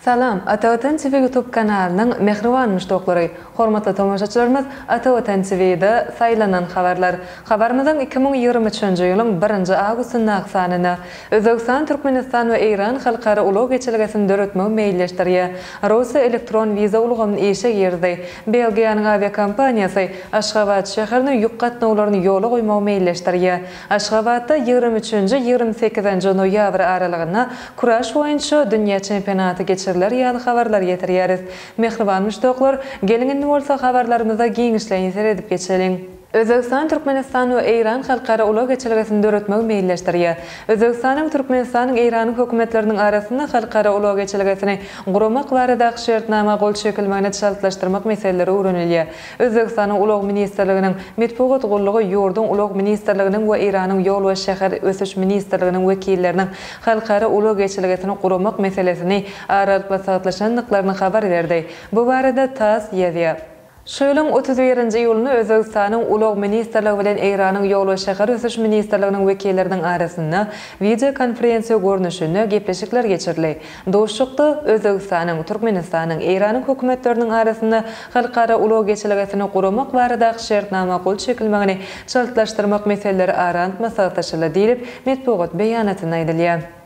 Salam, Ata Watan TV YouTube kanalynyň mähriban muşdaklary! Hormatly tomaşaçylarymyz, Ata Watan TV-de Saýlanan habarlar habarymyzyň iki müň ýigrimi üçünji ýylyň birinji awgustyndaky sanyna Özbegistan, Türkmenistan we Eýran halkara ulag geçelgesini döretmegi meýilleşdirýär. Russiýa elektron wiza ulgamyny işe girdi. Belgiýanyň awiakompaniýasy Aşgabat şäherine ýük gatnawlaryny ýola goýmagy meýilleşdirýär. Aşgabatda ýigrimi üçünji, ýigrimi sekizinji noýabr aralygynda kuraş boýunça dünýä çempionaty geçiriler ýaly habarlar getirýäris. Mähriban muşdaklar, geliň indi bolsa habarlarymyza giňişleýin seredip geçeliň. Özbegistan Türkmenistan we Eýran halkara ulag geçelgesini döretmegi meýilleşdirýär. Özbegistanyň, Türkmenistanyň, Eýranyň hökümetleriniň arasynda halkara ulag geçelgesini guramak baradaky şertnama gol çekilmegini çaltlaşdyrmak meseleleri öwrenilýär. Özbegistanyň Ulag ministrliginiň metbugat gullugy ýurduň Ulag ministrliginiň we Eýranyň Ýol we şäher ösüş ministrliginiň wekilleriniň halkara ulag geçelgesini guramak meselesini aralyklasagtlaşandyklaryny habar berdi. Bu barada tass ýazýar. Şu ýylyň otuz birinji iýulynda Özbegistanyň Ulag ministrligi bilen Eýranyň Ýol we şäher ösüş ministrliginiň wekilleriniň arasynda wideokonferensiýa görnüşinde gepleşikler geçirildi. Duşuşykda Özbegistanyň, Türkmenistanyň, Eýranyň hökümetleriniň arasynda halkara ulag geçelgesini guramak baradaky şertnama gol çekilmegini çaltlaşdyrmak meseleleri ara alyp maslahatlaşyldy diýlip, metbugat beýanatynda aýdylýar.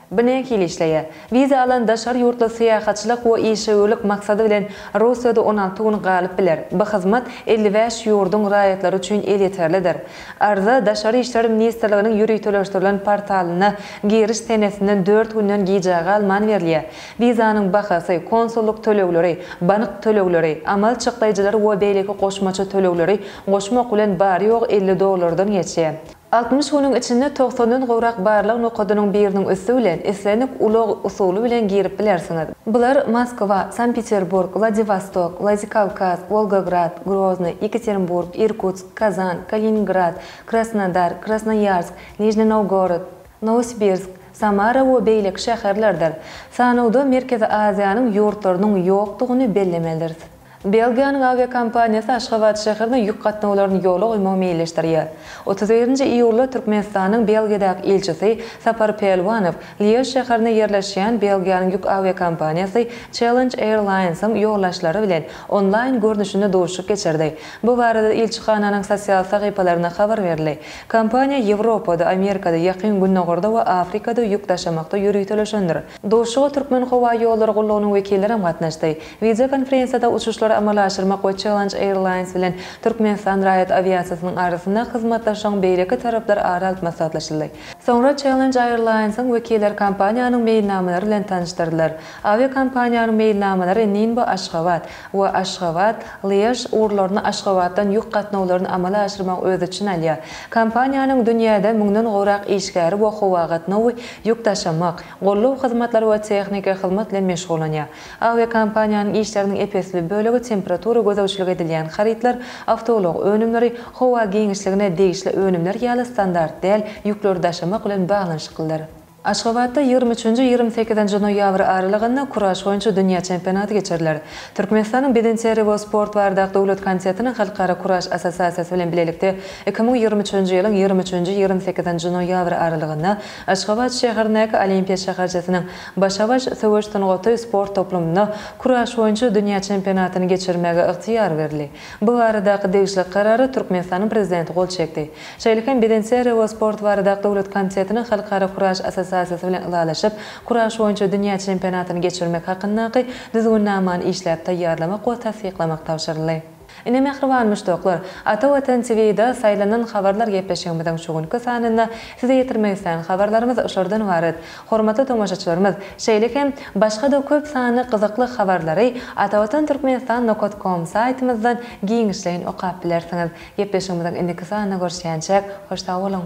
Bu nähili işleýär? Wiza alan daşary ýurtly syýahatçylyk we işewürlik maksady bilen Russiýada on alty gün galyp biler. Bu hyzmat elli bäş ýurduň raýatlary üçin elýeterlidir. Arza Daşary işler ministrliginiň ýöriteleşdirilen portalyna giriş senesinden dört günden gijä galman berilýär. Wizanyň bahasy, konsullyk tölegleri, bank tölegleri, amal çykdaýjylary we beýleki goşmaça tölegleri goşmak bilen bary-ýogy elli dollardan geçýär. Altmyş günüň içinde togsandan gowrak barlag nokadynyň biriniň üsti bilen islendik ulag usuly bilen girip bilersiňiz. Bular, Moskwa, Sankt-Peterburg, Wladiwostok, Wladikawkaz, Wolgograd, Grozny, Ýekaterinburg, Irkutsk, Kazan, Kaliningrad, Krasnodar, Krasnoýarsk, Nižni Nowgorod, Nowosibirsk, Samara we beýleki şäherlerdir. Sanawda Merkezi Aziýanyň ýurtlarynyň ýokdugyny bellemelidiris. Belgiýanyň awiakompaniýasy Aşgabat şäherine ýük gatnawlaryny ýola goýmagy meýilleşdirýär. Otuz birinji iýulda Türkmenistanyň Belgiýadaky ilçisi Sapar Pälwanow Lýež şäherinde ýerleşýän Belgiýanyň ýük awiakompaniýasy Challenge Airlines-iň ýolbaşçylary bilen onlaýn görnüşinde duşuşyk geçirdi. Bu barada ilçihananyň sosial sahypalarynda habar berildi. Kompaniýa Ýewropada, Amerikada, Ýakyn Gündogarda we Afrikada ýük daşamakda ýöriteleşendir. Duşuşyga Türkmenhowaýollary gullugynyň wekilleri hem gatnaşdy. Wideokonferensiýada uçuşlary amala aşyrmak we Challenge Airlines bilen Türkmenistan raýat awiasiýasynyň arasynda hyzmatdaşlygyň beýleki taraplary ara alyp maslahatlaşyldy. Soňra Challenge Airlines-iň wekilleri kompaniýanyň meýilnamalary bilen tanyşdyrdylar. Awiakompaniýanyň meýilnamalary Ninbo, Aşgabat, we Aşgabat, Lýež ugurlaryna Aşgabatdan ýük gatnawlaryny amala aşyrmagy öz içine alýar. Kompaniýanyň dünýäde müňden gowrak işgäri we howagatnawy, ýük daşamak, golluw hyzmatlary we tehniki hyzmat bilen meşgullanýar. Awiakompaniýanyň işleriniň ep-esli bölegi temperatura gözegçiligi edilýän harytlar, awtoulag önümleri, howa giňişligine degişli önümler ýaly standart däl ýükleri daşamak bilen baglanyşyklydyr. Aşgabatda ýigrimi üçünji-ýigrimi sekizinji noýabr aralygynda kuraş boýunça dünýä çempionaty geçiriler. Türkmenistanyň Bedenterbiýe we sport bardak döwlet komitetiniň Halkara kuraş assosiasiýasy bilen bilelikde iki müň ýigrimi üçünji ýylyň ýigrimi üçünji-ýigrimi sekizinji noýabr aralygynda Aşgabat şäherindäki Olimpiýa şäherçesiniň Başa-baş söweş sungaty sport toplumynda kuraş boýunça dünýä çempionatyny geçirmäge ygtyýar berildi. Bu baradaky degişli karara Türkmenistanyň Prezidenti gol çekdi. Şeýle hem birinçi RO sport barada döwlet komitetiniň Halkara kuraş assosiasiýasy bilen ylalaşyp, kuraş boýunça dünýä çempionatyny geçirmek hakyndaky düzgünnamany işläp taýýarlamak we tassyklamak tabşyryldy. Ine mähriban muşdaklar, Ata Watan TV-da Saýlanan habarlar gepleşigimiziň şu günki sanynda size ýetirmek islän habarlarymyz şolardan ybarat. Hormatly tomaşaçylarymyz, şeýle hem başga-da köp sanly gyzykly habarlary Atavatan Türkmenistan nokat kom saýtymyzdan giňişleýin okap bilersiňiz. Gepleşigimiziň indiki sanynda görüşýänçäk, hoş sag boluň!